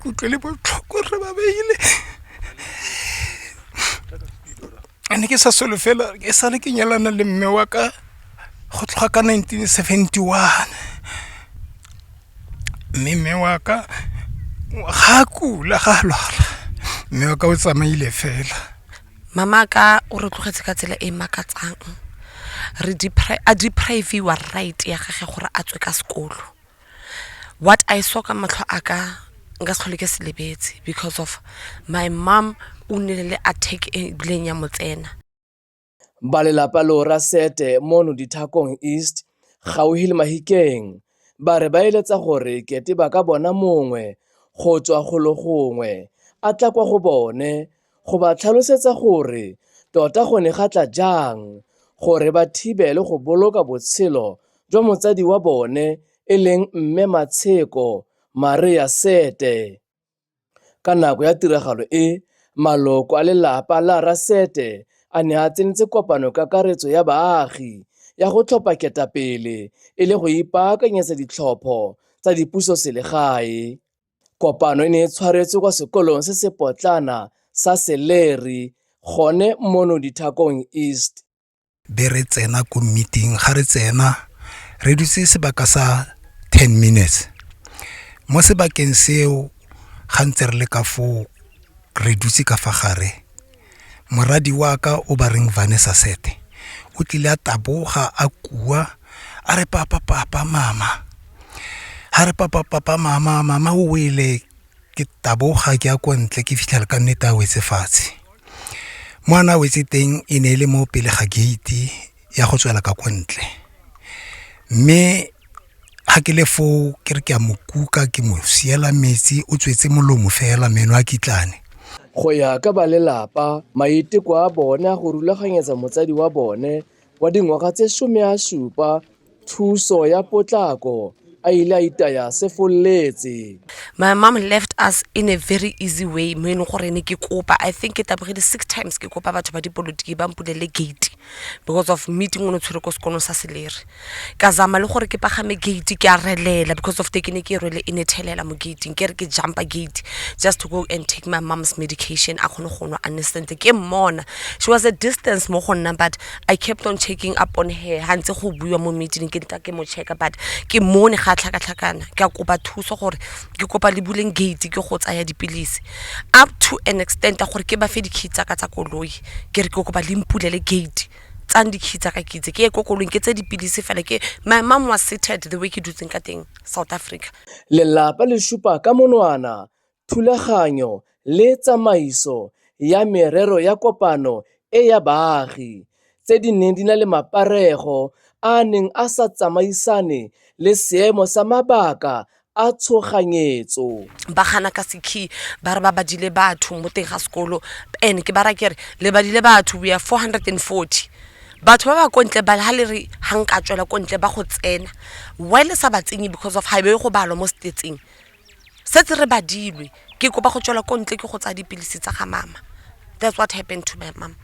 ke utlwele botlhoko re ba beile ane ke sa solofela e sale ke nyalana le mme wa ka go tloga ka 1971 mme mme wa ka ga kula ga lwala mme wa ka o tsamaile fela mama ka o re tlogetse ka tsela e e makatsang re a depriviwa right ya gage gore a tswe ka sekolo What I saw ka matlho a ka nka se tlhole ke se lebetse because of my mom o nnile le attack e bileng ya mo tsena. Ba lelapa leo Rasete mono Dithakong East gauhi le Mahikeng ba re ba eletsa gore kete ba ka bona mongwe go tswa golo gongwe a tla kwa go bone go ba tlhalosetsa gore tota go ne ga tla jang gore ba thibele go boloka botshelo jwa motsadi wa bone e leng Mme Matsheko Maria Sete. Ka nako ya tiragalo e, maloko a lelapa la Rra Sete a ne a tsenetse kopano kakaretso ya baagi ya go tlhopha ketapele e le go ipaakanyetsa ditlhopho tsa dipusoselegae. Kopano e ne e tshwaretswe kwa sekolong se se potlana sa Seleri gone mono Dithakong East. Be re tsena ko meeting, ga re tsena re dutse sebaka sa ten minutes. Mo sebakeng seo ga ntse re le ka foo re dutse ka fa gare, Moradi wa ka o ba reng Vanessa Sete o tlile a taboga a kua a re papa papa mama ha re papa papa mama mama o wele ke taboga ke ya kwa ntle ke fitlhela ka nnete a wetse fatshe mo a na wetse teng e ne e le mo pele ga gate ya go tswela ka kwa ntle mme Ga ke le foo ke re ke a mo kuka ke mo siela metsi o tswetse molomo fela meno a kitlane. Go ya ka ba lelapa, maiteko a bone a go rulaganyetsa motsadi wa bone wa dingwaga tse some a supa thuso ya potlako a ile a itaya a sefoletse. My mom left us in a very easy way mo e leng gore ne ke kopa, I think ke tabogile six times ke kopa batho ba dipolotiki ba mpulele gate. because of meeting o ne o tshwere ko sekolong sa seleri ka zama le gore ke pagame gate ke a relela because of te ke ne ke e rwele e ne thelela mo gating ke re ke jumpa gate just to go and take my mom's medication a kgone go nwa a nne sentle ke mmona she was a distance mo go nna but i kept on checking up on her ga ntse go buiwa mo meeting ke ntla ke mo checka but ke mone ga a tlhakatlhakana ke a kopa thuso gore ke kopa le buleng gate ke go tsaya dipilisi up to an extent ya gore ke ba fe di-key tsaka tsa koloi ke re ke kopa le mpulele gate tsang di-key tsaka ke itse ke ye ko koloing ke tse dipilisi fela ke my mom was seated the way ke dutseng ka teng south africa Lelapa le supa ka monwana thulaganyo le tsamaiso ya merero ya kopano e ya baagi, tse di neng di na le maparego a a neng a sa tsamaisane le seemo sa mabaka a tshoganyetso. ba gana ka sekhi ba re ba badile batho mo teng ga sekolo and ke bara kere le badile batho we are 440 batho ba ba kontle ba ha le re ga nka tswela kontle ba go tsena why le sa ba tsenye because of ga e be go balwa mo stateng setse re badilwe ke kopa go tswela ko ntle ke go tsaya dipilisi tsa ga mama that's what happened to my mom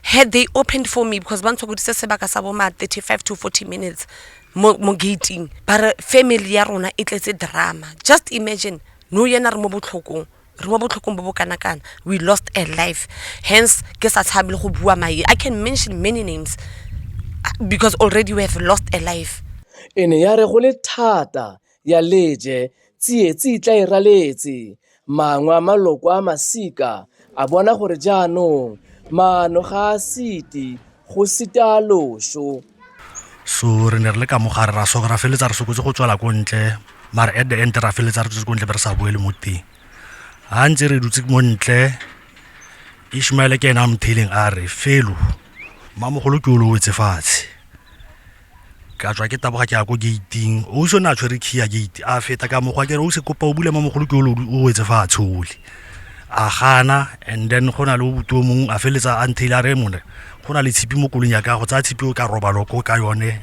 had they opened for me because ba ntshokoditse sebaka sa boma 35 to 40 minutes mo, mo gating ba re family ya rona e tletse drama just imagine no yena re mo botlhokong re mo botlhokong bo bo kana kana we lost a life hence ke sa tshabe le go bua mae i can mention many names uh, because already we have lost a life e ne ya re go le thata ya leje, tsietsi e tla e raletse. Mangwe a maloko a masika a bona gore jaanong maano ga a siti, go sita a loso. So re ne re le ka mogare ra soka ra feletsa re sokotse go tswela ko ntle mare at the end ra feletsa re tswetse ko ntle be re sa boele mo teng ga ntse re dutse mo ntle ishmaele ke ena a motheleng a re felo mmamogolo ke o lowetse fatshe ka tswa ke taboga ke ya ko gate-ing ausi o ne a tshwere key ya gate a feta ka mokgwa kere o se kopa o bule mo mogolo ke o wetse fa a tshole a gana and then go na le obuto mongwe a feletsa a ntheile a re mone go na le tshipi mo kolong ya ka go tsaya tshipi o ka roba loko ka yone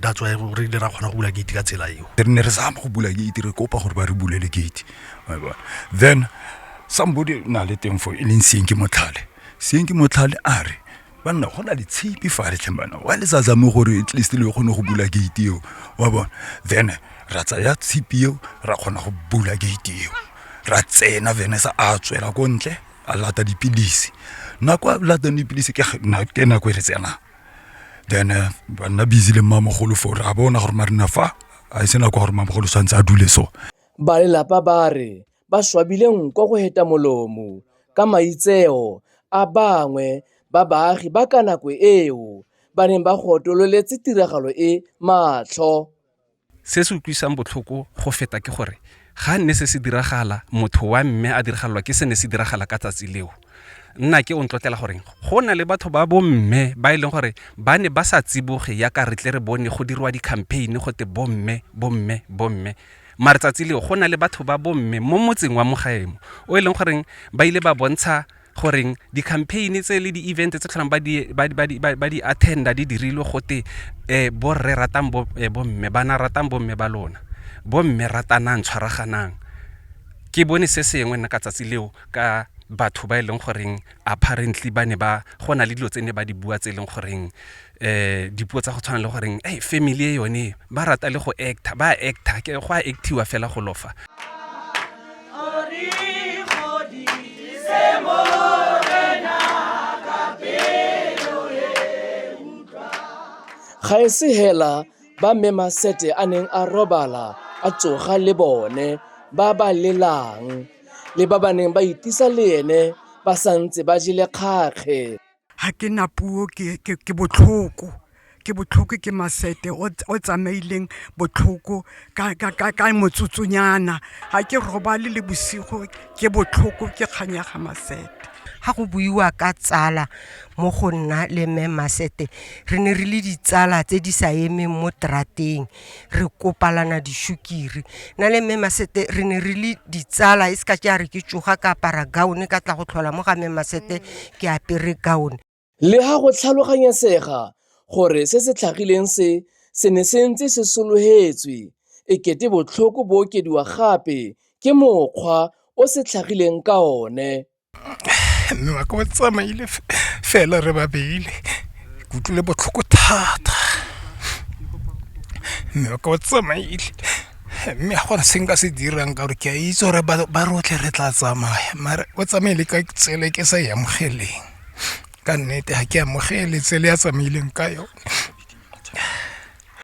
that's why re dira kgona go bula gate ka tsela eo re ne re zama go bula gate re kopa gore ba re bulele gate then somebody na le teng fo e leng seeng ke motlhale seeng ke motlhale a re banna go na le tshipi fa letlheng bana wa le sa zame gore at least le kgone go bula gate eo wa bona then ra tsaya tshipi eo ra kgona go bula gate eo ra tsena vene sa a tswela ko ntle a lata dipilisi nako a latang dipilisi ke nako e re tsenang then eh, banna busy le mmamogolo fo ra bona gore marina fa a e se nako gore mmamogolo tshwanetse a dule so ba lelapa ba re ba swabile nko go heta molomo ka maitseo a bangwe ba baagi ba ka nako eo ba neng ba gotololetse tiragalo e matlho. Se se utlwisang botlhoko go feta ke gore ga nne se se diragala, motho wa mme a diragalelwa ke se ne se diragala ka tsatsi leo. Nnake o ntlotlela gore go na le batho ba bomme ba e leng gore ba ne ba sa tsiboge yaka re tle re bone go dirwa di-campaign go te bomme, bomme, bomme. mare tsatsi leo go na le batho ba bomme mo motseng wa mogaemo o e leng goreng ba ile ba bontsha goreng di-campaign tse le di-event tse tlholang ba di attenda di dirilwe gote um borre ratang eh, bomme bana ratang bomme ba lona bomme ratanang tshwaraganang ke bone se sengwe nna ka tsatsi leo ka batho ba e leng goreng apparently ba ne ba go na le dilo tse ne ba di bua tse e leng goreng eh dipuo tsa go tshwana le goreng hey family e yone ba rata le go actor ba actor ke go a actiwa fela go lofa ga e se hela ba mme masete a neng a robala a tsoga le bone ba ba lelang le ba ba neng ba itisa le ene ba santse ba jele kgakge ga ke na puo ke botlhoko ke botlhoko ke masete o tsamaileng botlhoko ka motsotsonyana ga ke robale le bosigo ke botlhoko ke kganyaga masete ga go buiwa ka tsala mo go nna le mme masete re ne re le ditsala tse di sa emeng mo trateng re kopalana dishukiri na le mme masete re ne re le ditsala e se ka ke a re ke tsoga ka apara gaone ka tla go tlhola mo ga mme masete ke apere gaone le ga go tlhaloganyesega gore se se tlhagileng se se ne se ntse se sologetswe e kete botlhoko bo okediwa gape ke mokgwa o se tlhagileng ka one mme wa ka o tsamaile fela re babele ke utlwile botlhoko thata mme wa ka o tsamaile mme ga gona se nka se dirang ka gore ke a itse gore ba rotlhe re tla tsamaya mare o tsamaile ka tsela e ke sa e amogeleng ka nnete ga ke amogele tsela ya tsamaileng ka yone.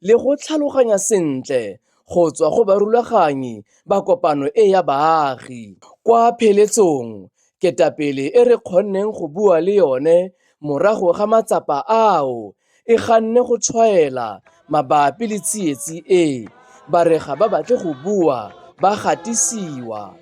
le go tlhaloganya sentle go tswa go barulaganyi ba kopano e ya baagi. Kwa pheletsong, ketapele e re kgonneng go bua le yone morago ga matsapa ao e ganne go tshwaela mabapi le tsietsi e, ba re ga ba batle go bua ba gatisiwa.